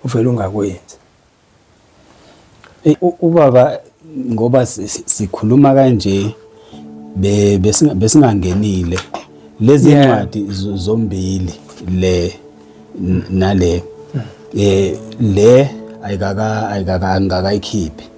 uvele ungakwenzi ubaba ngoba sikhuluma kanje besingangenile lezi ncwadi zombili le nale eh le ayikaka ayikaka ngakayikhiphi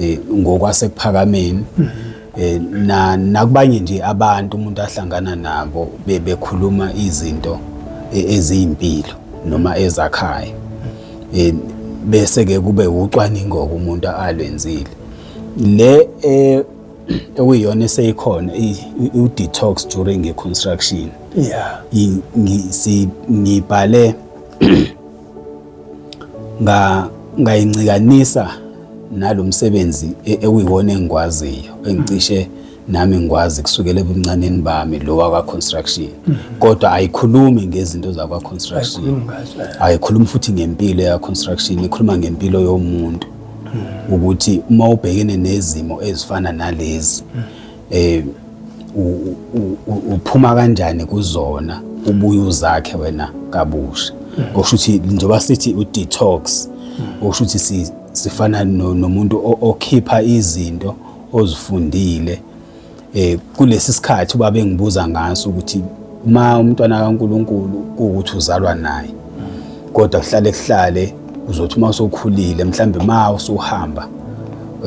eh, ngokwasekuphakameni mm -hmm. Eh, na nakubanye nje abantu umuntu ahlangana nabo bebekhuluma izinto e, eziyimpilo noma ezakhayo eh, bese ke kube ucwaningo umuntu alwenzile le eh, okuyiyona eseyikhona u detox during construction yeah ngibhale ngayincikanisa nalo msebenzi e, ekuyiwona engikwaziyo engicishe nami ngikwazi kusukela ebuncaneni bami lo wakwa construction mhm. kodwa ayikhulumi ngezinto zakwa construction ayikhulumi futhi ngempilo ya construction ikhuluma ngempilo yomuntu mhm. ukuthi uma ubhekene nezimo ezifana nalezi mhm. eh uphuma kanjani kuzona ubuye uzakhe wena kabusha kusho ukuthi njengoba sithi u-detox kusho ukuthi sifana nomuntu okhipha izinto ozifundile eh kulesi sikhathi uba bengibuza ngaso ukuthi uma umntwana kaNkuluNkulu ukuthi uzalwa naye kodwa kuhlale kuhlale uzothi uma usukhulile mhlambe ma usuhamba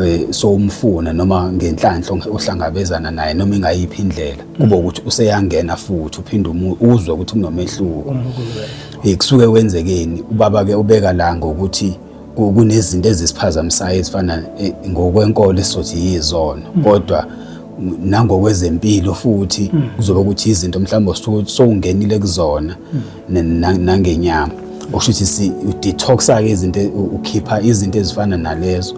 eh, so umfuna noma ngenhlanhla ohlangabezana naye noma ingayiphi indlela kube ukuthi useyangena futhi uphinde uzwe ukuthi kunomehluko eh, kusuke wenzekeni ubaba ke ubeka la ngokuthi kunezinto ezisiphazamisayo ezifana eh, ngokwenkolo esizothi yizona mm. kodwa mm. nangokwezempilo futhi mm. kuzoba ukuthi izinto mhlawumbe sowungenile kuzona mm. nangenyama okusho ukuthi si detoxa ke izinto ukhipha izinto ezifana nalezo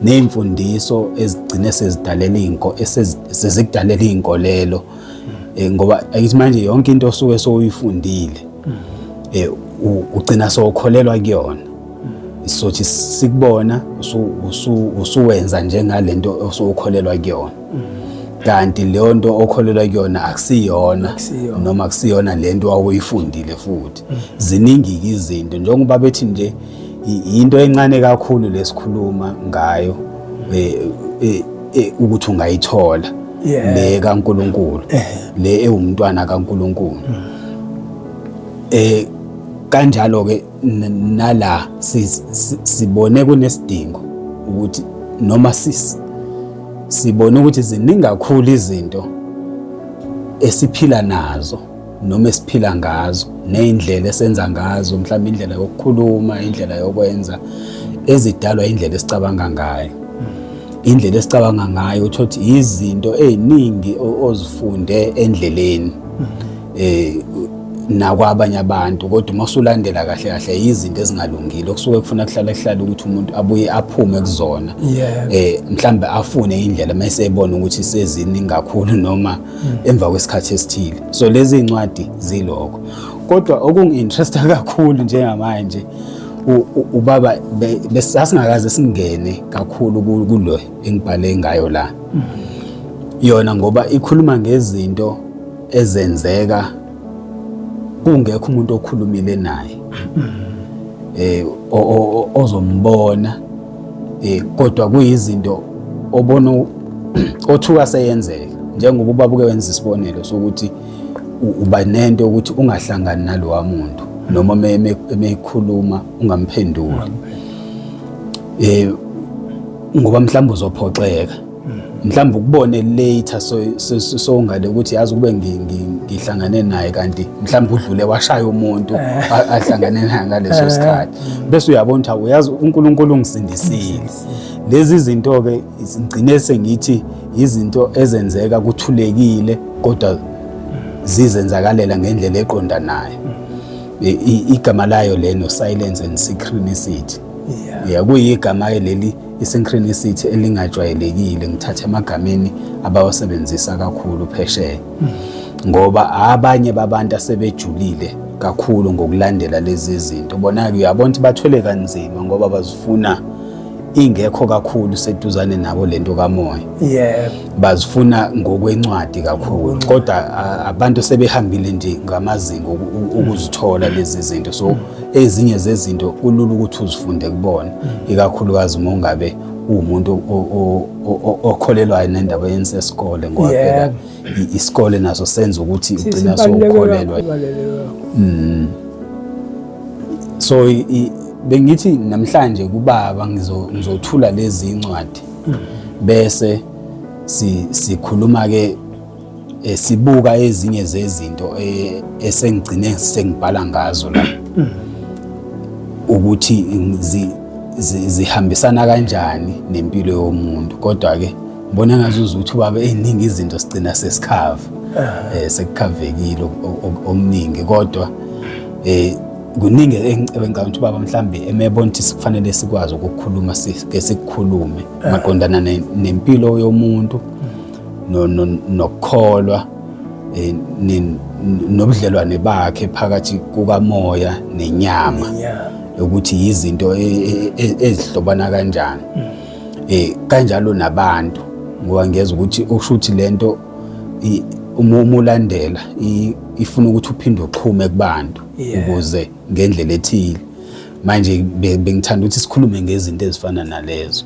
nezimfundiso ezigcine sezidalela inko esezikudalela inkolelo eh, ngoba ayithi manje yonke into osuke soyifundile mm. eh ugcina sokholelwa kuyona sothi sikubona usuwenza njengalento osukholelwa kuyona kanti leyo nto okholelwa kuyona akusiyona noma akusiyona le nto wawuyifundile futhi mm. ziningi-ke izinto njengoba bethi nje yinto encane kakhulu lesikhuluma ngayo eh, eh, eh, ukuthi ungayithola le kaNkuluNkulu le ewumntwana kaNkuluNkulu mm. eh kanjalo ke nala sibone kunesidingo ukuthi noma sisi sibone ukuthi ziningi kakhulu izinto esiphila nazo noma esiphila ngazo nezindlela esenza ngazo mhlawumbe indlela yokukhuluma indlela yokwenza ezidalwa indlela esicabanga ngayo indlela esicabanga ngayo uthi izinto eziningi ozifunde endleleni eh nakwabanye abantu kodwa uma usulandela kahle kahle yizinto ezingalungile okusuke kufuna kuhlala kuhlala ukuthi umuntu abuye aphume kuzona eh mhlambe afune indlela mase ebona ukuthi sezini ngakhulu noma hmm. emva kwesikhathi esithile so lezi incwadi ziloko kodwa okunginteresta kakhulu njengamanje ubaba besasingakaze singene kakhulu kulo engibhale ngayo la hmm. yona ngoba ikhuluma ngezinto ezenzeka kungekho umuntu okhulumile naye eh ozombona eh kodwa kuyizinto obona othuka seyenzeka njengoba ubabuke wenza isibonelo sokuthi uba nento ukuthi ungahlangani nalowa muntu noma meyikhuluma ungamphenduli eh ngoba mhlawumbe uzophoxeka mhlawumbe ukubone later sowungale ukuthi yazi ukube ngihlangane naye kanti mhlawumbe udlule washaya umuntu eh. ahlangane naye ngaleso eh. sikhathi bese uyabona ukuthi uyazi uNkulunkulu ungisindisile lezi zinto ke ngigcine sengithi izinto ezenzeka kuthulekile kodwa zizenzakalela ngendlela eqondanayo igama layo leno silence and synchronicity yeah kuyigama leli i-synchronicity elingajwayelekile ngithathe emagameni abawasebenzisa kakhulu phesheya ngoba abanye babantu asebejulile kakhulu ngokulandela lezi zinto bona-ke uyabona ukuthi bathwele kanzima ngoba bazifuna ingekho kakhulu seduzane nabo lento kamoya yebo bazifuna ngokwencwadi kakhulu kodwa abantu sebehambile nje ngamazinga ukuzithola lezi zinto so ezinye zezinto kulula ukuthi uzifunde kubona ikakhulukazi uma ungabe uwumuntu okholelwayo nendaba yenza esikole ngoba phela isikole naso senza ukuthi ugcina sokukholelwa mm. so bengithi namhlanje kubaba ngizothula lezi incwadi mm. bese sikhuluma ke Eh, sibuka ezinye zezinto eh, esengigcine sengibhala ngazo la ukuthi zihambisana kanjani nempilo yomuntu kodwa ke ngibona ngathi uzuthi ubaba eziningi izinto sigcina sesikhava eh sekukhavekile omningi kodwa eh kuningi engicabanga ukuthi baba mhlambe emebona ukuthi sikufanele sikwazi ukukhuluma sike sikukhulume maqondana nempilo yomuntu nokukholwa eh, nobudlelwane bakhe phakathi kukamoya nenyama ukuthi yizinto e, e, e, ezihlobana kanjani mm. eh kanjalo nabantu ngoba ngiyeza ukuthi usho ukuthi lento uma umulandela ifuna ukuthi uphinde uxhume kubantu ukuze ngendlela ethile manje bengithanda ukuthi sikhulume ngezinto ezifana nalezo